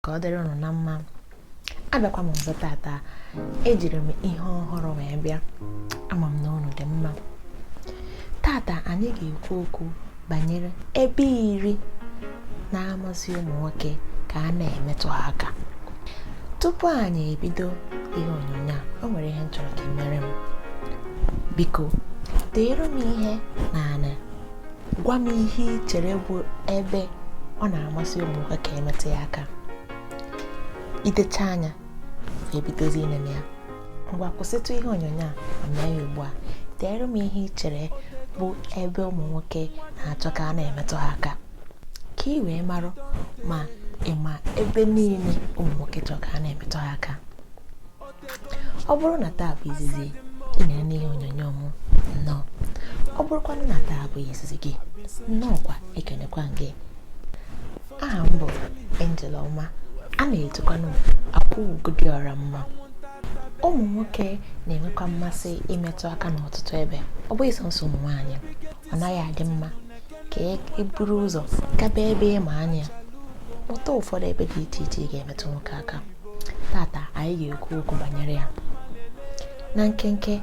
ka ọ dịrị ụnụ na mma abịakwa m ọzọ tata ejiri m ihe ọhụrụ wee bịa ama m na ụnụ dị mma tata anyị ga-ekwu okwu banyere ebe iri na-amasị ụmụ nwoke ka a na-emetụ ha aka tupu anyị ebido ihe onyonyo a o nwere ihe m chọrọ ka ị mere m biko deere m ihe n'anị gwa m ihe ị chere bụ ebe ọ na-amasị ụmụ nwoke ka e metụ ya aka i dechaa ya i bidozi inene ya ngwa kwụsịtụ ihe onyonyo a ma mee ya ugbu a deere m ihe ị chere bụ ebe ụmụ nwoke na-achọ ka a na-emetụ ha aka ka ị wee marụ ma ị ma ebe niile ụmụ nwoke chọrọ ka a na-emetụ ha aka ọ bụrụ na taa bụ izizi ị na-ene ihe onyonyo m nnọọ ọ bụrụkwanụ na taa bụ izizi gị nnọọkwa ekenekwa m gị aha m bụ Angel Ọma a na-etukwanụ Akwaugo dị ọra mma ụmụ nwoke na-enwekwa mmasị imetụ aka n'ọtụtụ ebe ọ bụghị sọnsọ ụmụ nwaanyị ọ naghị adị mma ka e buru ụzọ gaba ebe ị ma anya ụtọ ụfọdụ ebe dị iche iche ị ga-emetụ nwoke aka tata anyị ga-ekwu okwu banyere ya na nkenke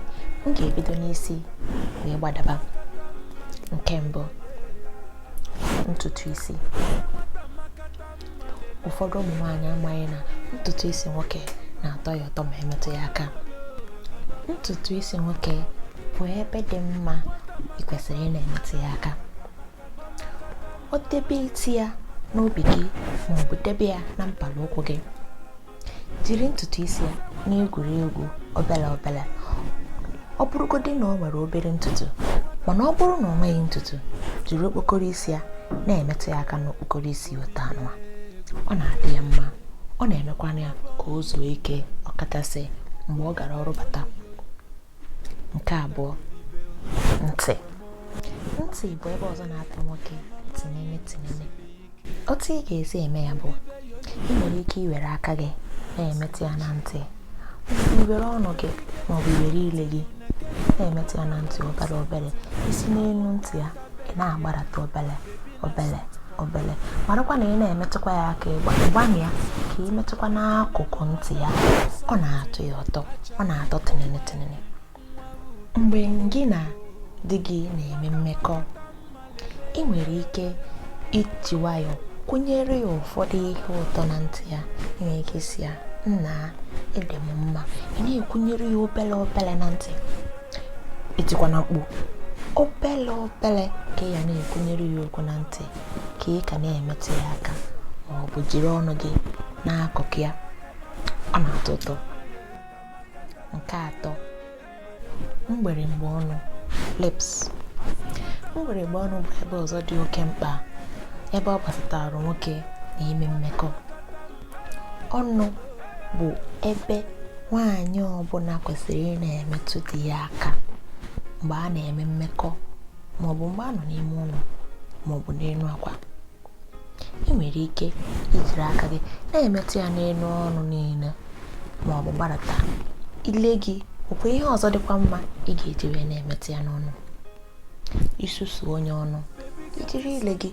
m ga-ebido n'isi wee gbadaba nke mbụ ntutu isi ụfọdụ ụmụ nwaanyị amaghị na ntutu isi nwoke na-atọ ya ụtọ ma e metụ ya aka ntutu isi nwoke bụ ebe dị mma ị kwesịrị ị na-emetụ ya aka o debe isi ya n'obi gị ma ọ bụ debe ya na mpala ụkwụ gị jiri ntutu isi ya na-egwuri egwu obere obere ọ bụrụgodị na o nwere obere ntutu mana ọ bụrụ na o nweghị ntutu jiri okpokoro isi ya na-emetụ ya aka n'okpokoro isi otu anụ ọ na-adị ya mma ọ na-emekwana ya ka o zuo ike ọkachasị mgbe ọ gara ọrụ bata nke abụọ ntị ntị bụ ebe ọzọ na-atọ nwoke tinene tinene otu ị ga-esi eme ya bụ i nwere ike iwere aka gị na-emetụ ya na ntị iwere ọnụ gị ma ọ bụ iwere ile gị na-emetụ ya na ntị obere obere i si n'elu ntị ya ị na-agbarata obele obele obele marakwa na ị na-emetụkwa ya aka ịgba gbanụ ya ka ị metụkwa n'akụkụ ntị ya ọ na-atọ ya ụtọ ọ na-atọ tinene tinene mgbe gị na di gị na-eme mmekọ ị nwere ike iji nwayọ kwunyere ya ụfọdụ ihe ụtọ na ntị ya ị nwere ike sị ya nna ị dị m mma ị na-ekwunyere ya obele obele na ntị i tikwana mkpu obele obele ka ị ya na-ekwunyere ya okwu na ntị ka ị ka na-emetụ ya aka ma ọ bụ jiri ọnụ gị n'akụkụ ya ọ na-atọ ụtọ nke atọ mgberemgbe ọnụ lips mgberemgbe ọnụ bụ ebe ọzọ dị oke mkpa ebe ọ gbasatara nwoke na ime mmekọ ọnụ bụ ebe nwaanyị ọbụla kwesịrị ị na-emetụ di ya aka mgbe a na-eme mmekọ maọbụ mgbe a nọ n'ime ụlọ maọbụ n'elu akwa ị nwere ike ijiri aka gị na-emetụ ya n'elu ọnụ niile maọbụ gbadata ile gị ọkwa ihe ọzọ dịkwa mma ị ga-eji wee na-emetụ ya n'ọnụ isusu onye ọnụ ijiri ile gị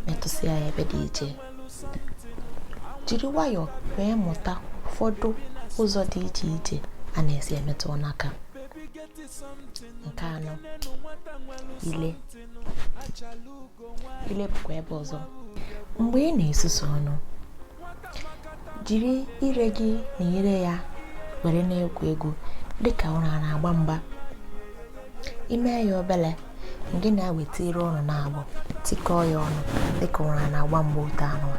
metụsịa ya ebe dị iche jiri nwayọọ wee mụta ụfọdụ ụzọ dị iche iche a na-esi emetụ ọnụ aka nke anọ ile ile bụkwa ebe ọzọ mgbe ị na-esusu ọnụ jiri ire gị na ire ya were na-egwu egwu dịka ire na-agba mgba i mee ya obere gị na ya eweta ire unu naabọ tikọọ ya ọnụ dịka ire na-agba mgba otu anụnwa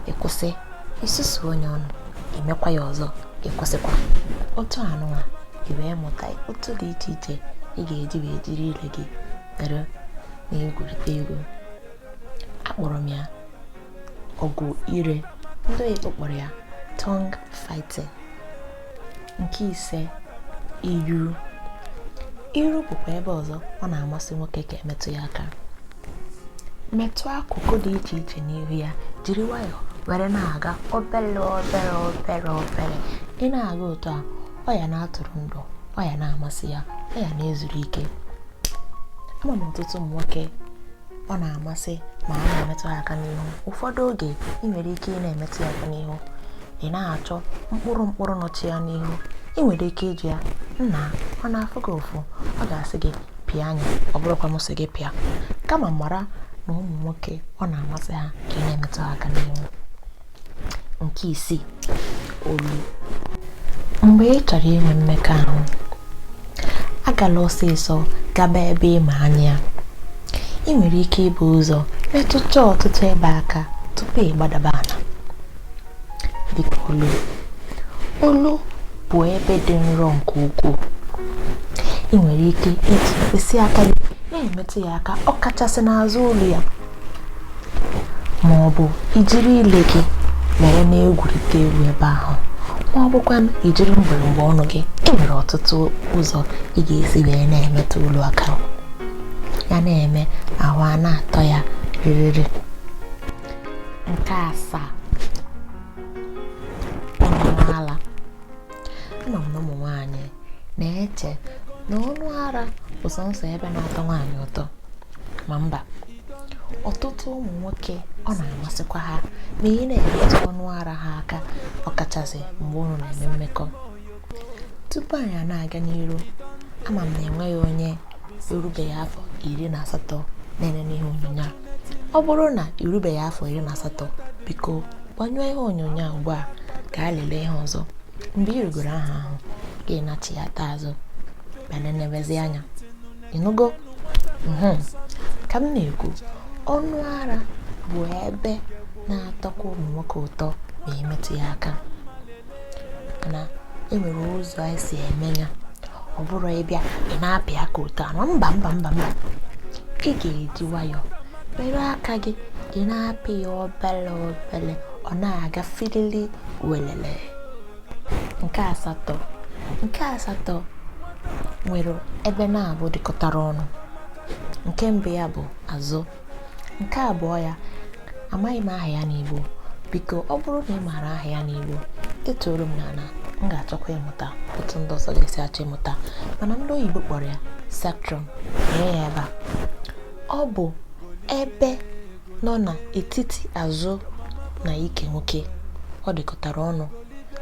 ị kwụsị isusu onye ọnụ i mekwa ya ọzọ kwụsịkwa otu anụnwa i wee mụta otu dị iche iche ị ga-eji wee jiri ire gị were na-egwurịta egwu akpọrọ m ya ọgụ ire ndị oyibo kpọrọ ya tongue fighting nke ise iru iru bụkwa ebe ọzọ ọ na-amasị nwoke ka emetụ ya aka metụ akụkụ dị iche iche n'ihu ya jiri nwayọọ were na-aga obere obere obere obere ị na-aga otu a ọ ya na-atụrụ ndụ ọ ya na-amasị ya ọ ya na-ezuru ike ama m ọtụtụ ụmụ nwoke ọ na-amasị ma a na-emetụ ha aka n'ihu ụfọdụ oge ị nwere ike ị na-emetụ ya aka n'ihu ị na-achọ mkpụrụ mkpụrụ nọcha ya n'ihu ị nwere ike ịjụ ya nna ọ na-afụ gị ụfụ ọ ga-asị gị pịa anya ọ bụrọkwa m sị gị pịa kama mara na ụmụ nwoke ọ na-amasị ha ka ị na-emetụ ha aka n'ihu nke isii olu mgbe ị chọrọ inwe mmekọahụ agala ọsịsọ gaba ebe ịma anya ị nwere ike ibu ụzọ metụcha ọtụtụ ebe aka tupu ị gbadaba ala dịka olu olu bụ ebe dị nro nke ukwuu ị nwere ike iji mkpịsị aka gị na-emetụ ya aka ọ kachasị n'azụ olu ya ma ọ bụ ijiri ile gị were na-egwurịta egwu ebe ahụ ma ọ bụkwa na ijiri mgbịrịgba ọnụ gị e nwere ọtụtụ ụzọ ị ga-esi wee na-emetụ olu aka ya na-eme ahụ a na-atọ ya rịrịrị nke asaa ama m na ụmụ nwaanyị na-eche na ọnụ ara bụ sọnsọ ebe na-atọ nwaanyị ụtọ ma mba ọtụtụ ụmụ nwoke ọ na-amasịkwa ha ma ị na-emetụ ọnụ ara ha aka ọkachasị mgbe ụnụ na-eme mmekọ tupu anyị na-aga n'iru ama m na enweghị onye erubeghị afọ iri na asatọ na-enene ihe onyonyo a ọ bụrụ na irubeghị afọ iri na asatọ biko gbanyụọ ihe onyonyo a ugbu a gaa lelee ihe ọzọ mgbe ị rugoro afọ ahụ gị nachighata azụ bịa nenebezi anya ị nụgo mhm. ka m na-ekwu ọnụ ara bụ ebe na-atọkwa ụmụ nwoke ụtọ ma e metụ ya aka na e nwere ụzọ e si eme ya ọ bụrọ ị bịa ị na-apị aka otu anwa mba mba mba mba ị ga-eji nwayọọ were aka gị ị na-apị ya obele obele ọ na-aga filili welele nke asatọ nke asatọ nwere ebe naabọ dịkọtara ọnụ nke mbụ ya bụ azụ nke abụọ ya amaghị m aha ya n'Igbo biko ọ bụrụ na ị maara aha ya n'Igbo detuoro m n'ala m ga-achọkwa ịmụta otu ndị ọzọ ga-esi achọ ịmụta mana ndị oyibo kpọrọ ya sacrum nee ya ebe a ọ bụ ebe nọ n'etiti azụ na ike nwoke ọ dịkọtara ọnụ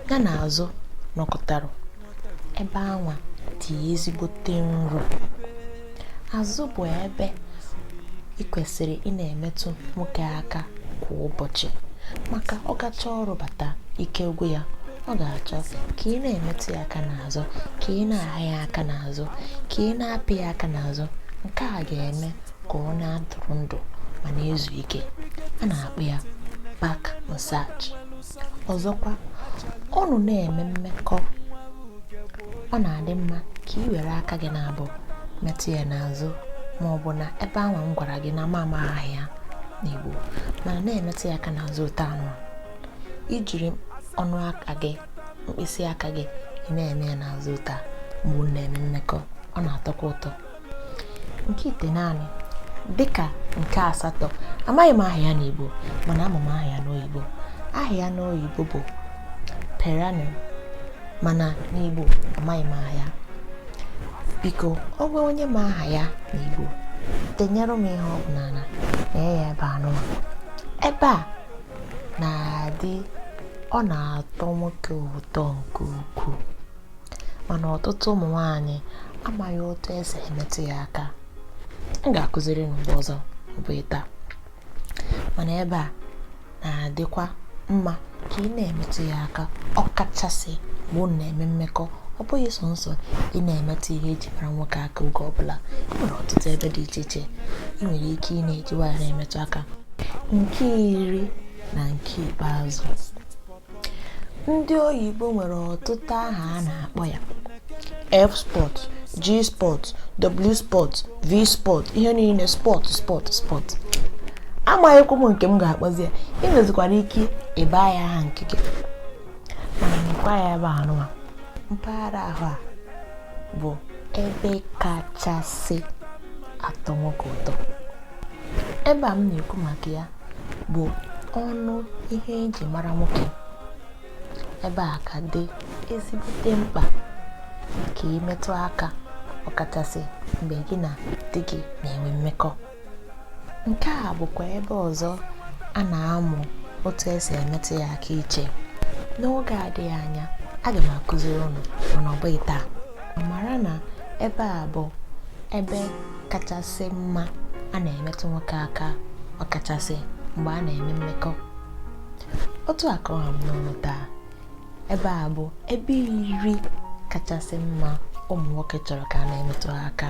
ya na azụ nọkọtara ebe anwa dị ezigbote nro azụ bụ ebe ị kwesịrị ị na-emetụ nwoke aka kwa ụbọchị maka ọ gachaa ọrụ bata ike gwụ ya ọ ga-achọ ka ị na-emetụ ya aka n'azụ ka ị na-ahịa ya aka n'azụ ka ị na-apị ya aka n'azụ nke a ga-eme ka ọ na-atụrụ ndụ ma na-ezu ike a na-akpọ ya back massage ọzọkwa ụnụ na-eme mmekọ ọ na-adị mma ka ị were aka gị naabọ metụ ya n'azụ ma ọ bụ na ebe ahụ m gwara gị na m amaghị aha ya n'Igbo mana na-emetụ ya aka n'azụ otu anwa ijiri ọnụ aka gị mkpịsị aka gị ị na-eme ya n'azụ otu a mgbe ụnụ na-eme mmekọ ọ na-atọkwa ụtọ nke itenaanị dịka nke asatọ amaghị m aha ya n'Igbo mana ama m aha ya n'oyibo aha ya n'oyibo bụ perineum mana n'Igbo amaghị m aha ya biko o nwee onye ma aha ya n'Igbo denyere m ihe ọ bụ n'ala na ya ebe anụ ebe a na-adị ọ na-atọ nwoke ụtọ nke ukwuu mana ọtụtụ ụmụ nwaanyị amaghị otu esi emetụ ya aka m ga-akụziri unu mgbe ọzọ ọ bụghị taa mana ebe a na-adịkwa mma ka ị na-emetụ ya aka ọkachasị mgbe unu na-eme mmekọ ọ bụghị sọnsọ ị na-emetụ ihe eji mara nwoke aka oge ọbụla e nwere ọtụtụ ebe dị iche iche ị nwere ike ị na-eji nwayọ na-emetụ aka nke iri na nke ikpeazụ ndị oyibo nwere ọtụtụ aha a na-akpọ ya f spot g spot w spot v spot ihe niile spot spot spot amaghịkwa m nke m ga-akpọzi ya ị nwezikwara ike ịba ya aha nke gị mana mekwa ya ebe anụwa mpaghara ahụ a bụ ebe kachasị atọ nwoke ụtọ ebe a m na-ekwu maka ya bụ ọnụ ihe eji mara nwoke ebe a ka dị ezigbote mkpa ka ị metụ aka ọkachasị mgbe gị na di gị na-enwe mmekọ nke a bụkwa ebe ọzọ a na-amụ otu esi emetụ ya aka iche n'oge adịghị anya aga m akụziri unu mana ọ bụghị taa mara na ebe a bụ ebe kachasị mma a na-emetụ nwoke aka ọkachasị mgbe a na-eme mmekọ otu a ka ọ ha m n'ọnụ taa ebe a bụ ebe iri kachasị mma ụmụ nwoke chọrọ ka a na-emetụ ha aka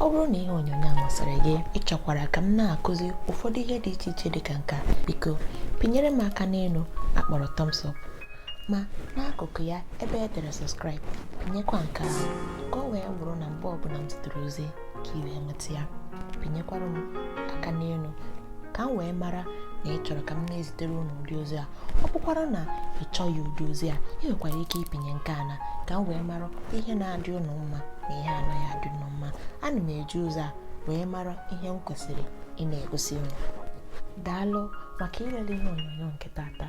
ọ bụrụ na ihe onyonyo a masịrị gị ị chọkwara ka m na-akụzi ụfọdụ ihe dị iche iche dị ka nka biko pịnyere m aka n'elu a kpọrọ thumbs up ma n'akụkụ ya ebe e dere subscribe pịnyekwa nke ahụ ka ọ wee bụrụ na mgbe ọbụla m zitere ozi ka ị wee nweta ya pịnyekwara m aka n'elu ka m wee mara na ị chọrọ ka m na-ezitere unu ụdị ozi a ọ bụkwara na ị chọghị ụdị ozi a ị nwekwara ike ịpịnye nke ana ka m wee mara ihe na-adị unu mma na ihe anaghị adị unu mma ana m eji ụzọ a wee mara ihe m kwesịrị ị na-egosi unu daalụ maka ilele ihe onyonyo nke tata